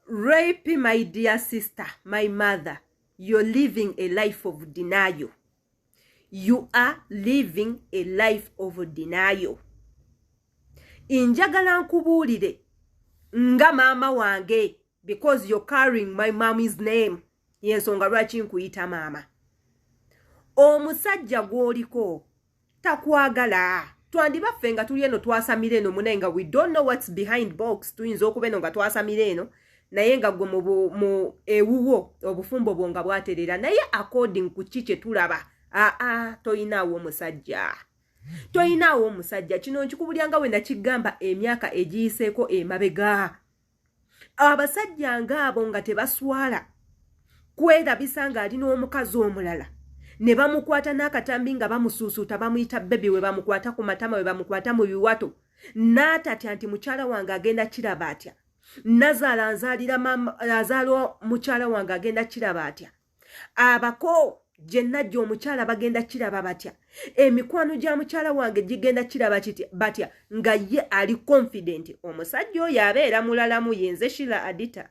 rape my dear sister my mother you're living a life of denial you are living a life of denial njagala nkubuulire nga maama wange because you're carrying my mommy's name yensonga lwaki nkuyita maama omusajja gwoliko takwagala twandiba ffe nga tuli eno twasamira eno munaye nga we don't know what's behind box tuyinza okuba eno nga twasamira eno naye nga gwe mu ewuwo obufumbo bwo nga bwaterera naye according ku ki kye tulaba aa toyinaawo omusajja toyinaawo omusajja kino nkikubulya nga we nakigamba emyaka egiyiseeko emabega abasajja ngaabo nga tebaswala kwerabisa ng'ali n'omukazi omulala ne bamukwata n'akatambi nga bamusuusuuta bamuyita bebi we bamukwata ku matama we bamukwata mu biwato n'atatya nti mukyala wange agenda kiraba atya nazaala nzaalira azaala mukyala wange agenda kiraba atya abako gye najja omukyala bagenda kiraba batya emikwano gya mukyala wange gigenda kiraba kiti batya nga ye ali confident omusajja oyo abeera mulalamu yenze shila adita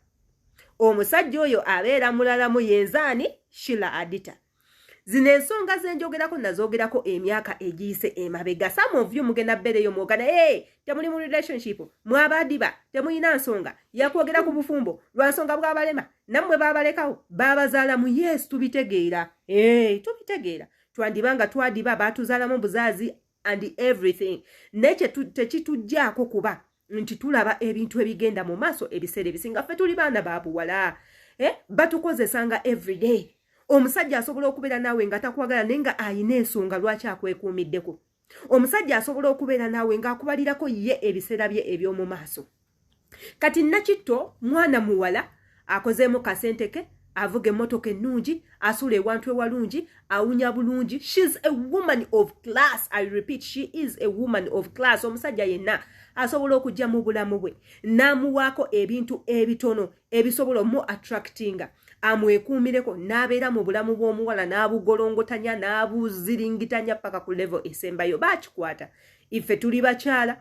omusajja oyo abeera mulalamu yenze ani shila adita zino ensonga zenjogerako nazogerako emyaka egiyise emabega some of you mugenda bereyo mwogana e eh, temuli mu relationship mwabadiba temuyina nsonga yakwogera ku bufumbo lwansonga bwabalema nammwe baabalekawo baabazaala mu yesu tubitegeera ee eh, tubitegeera twandiba nga twadiba baatuzaalamu buzaazi and everything naye tekituggyako kuba nti tulaba ebintu ebigenda mu maaso ebiseera ebisinga ffe tuli baana ba buwala eh, batukozesanga everyday omusajja asobola okubeera naawe nga takwagala naye nga alina ensonga lwaki akwekuumiddeko omusajja asobola okubeera naawe ng'akubalirako ye ebiseera bye eby'omu maaso kati nakitto mwana muwala akozeemu kasente ke avuga emmotoka ennungi asuula ewantu ewalungi awunya bulungi shes a woman of class i repeat she is a woman of class omusajja yenna asobola okujja mu bulamu bwe n'amuwaako ebintu ebitono ebisobola omu attractinga amwekuumireko n'abeera mu bulamu bw'omuwala n'abugolongotanya n'abuziringitanya paka ku levo esembayo bakikwata ife tuli bakyala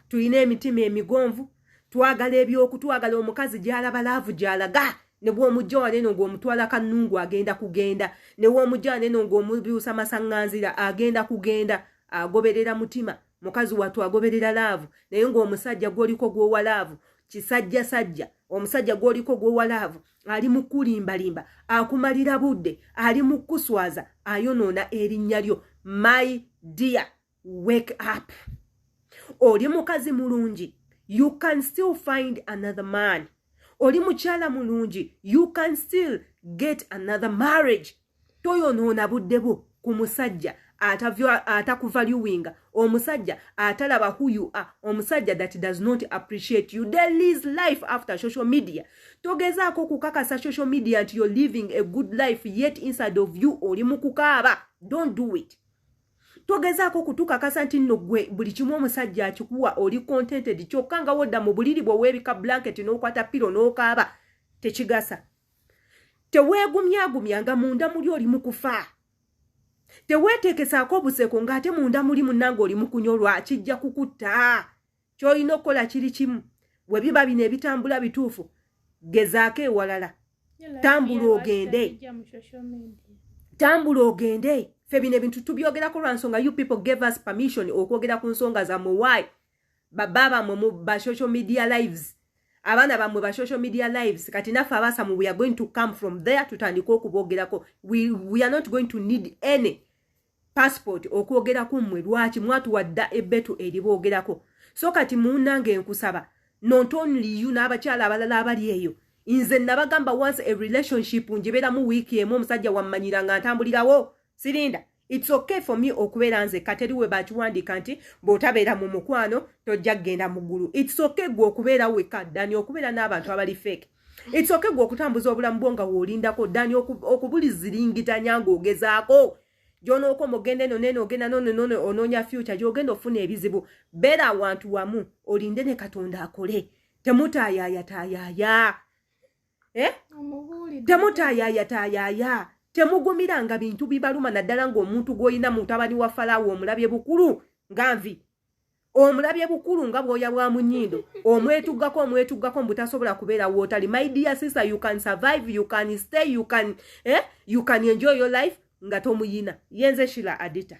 tulina emitima emigonvu twagala ebyoku twagala omukazi gyalaba laavu gyalaga nebwomujja waneno ngaomutwala kanungu agenda kugenda newomujja waneno ngaomubiusa masaŋŋanzira agenda kugenda agoberera mutima mukazi watu agoberera laavu naye ng'omusajja gwoliko gwowa laavu kisajja sajja omusajja gwoliko gwowa laavu ali mukulimbalimba akumalira budde ali mukuswaza ayonoona erinnya lyo my dear wake up oli mukazi mulungi you can still find another man oli mukyala mulungi you can still get another marriage toyonoona budde bwo ku musajja atakuvaluinga omusajja atalaba who you are omusajja that does not appreciate you there is life after social media togezaako okukakasa social media nti you're living a good life yet inside of you oli mu kukaaba don't do it togezaako kutukakasa nti nno gwe buli kimu omusajja akikuwa oli contented kyokka nga wodda mu buliri bwe weebika blanket n'okwata piro n'okaaba tekigasa teweegumyagumya nga munda muli oli mu kufa teweeteekesaako obuseko ng'ate munda muli munnanga oli mu kunyolwa kijja kukutta ky'olina okukola kiri kimu bwe biba bino ebitambula bituufu gezaako ewalala tambula ogende tambula ogende fe bino ebintu tubyogerako lwa nsonga you people gave us permission okwogera ku nsonga zamwe why baba bamwe mu ba social media lives abaana bamwe ba social media lives kati naffe abasamu we are going to come from there tutandika okubogerako we, we are not going to need any passport okwogerako mmwe lwaki mwatuwadda ebbetu eriboogerako so kati munnange enkusaba not only you n'abakyala abalala abali eyo nze nabagamba once a relationship njibeeramu wiiki emu omusajja wammanyira nga ntambulirawo sirinda It's okay for me okubeera nzekka teri we bakiwandiika nti bw'otabeera mu mukwano tojja kugenda mu ggulu it's okay gwe okubeera wekka dani okubeera n'abantu abali fake it's okay gwe okutambuza obulamu bwo nga woolindako dani okubuliziringitanya ng'ogezaako gyonooka omugenda eno neno ogenda nonenone onoonya fyuca gyogenda ofuna ebizibu beera awantu wamu olinde ne katonda akole temutaayayataayaya eh? temutayaya tayaya temugumiranga bintu bibaluma naddala ngaomuntu gwolina mutabani wa falawo omulabye bukulu nga nvi omulabye bukulu nga bwoya bwa munyindo omwetuggako omwetuggako mbutasobola kubeera wootali my dear sister you can survive you can stay you can, eh? you can enjoy your life nga tomuyina yenze shila adita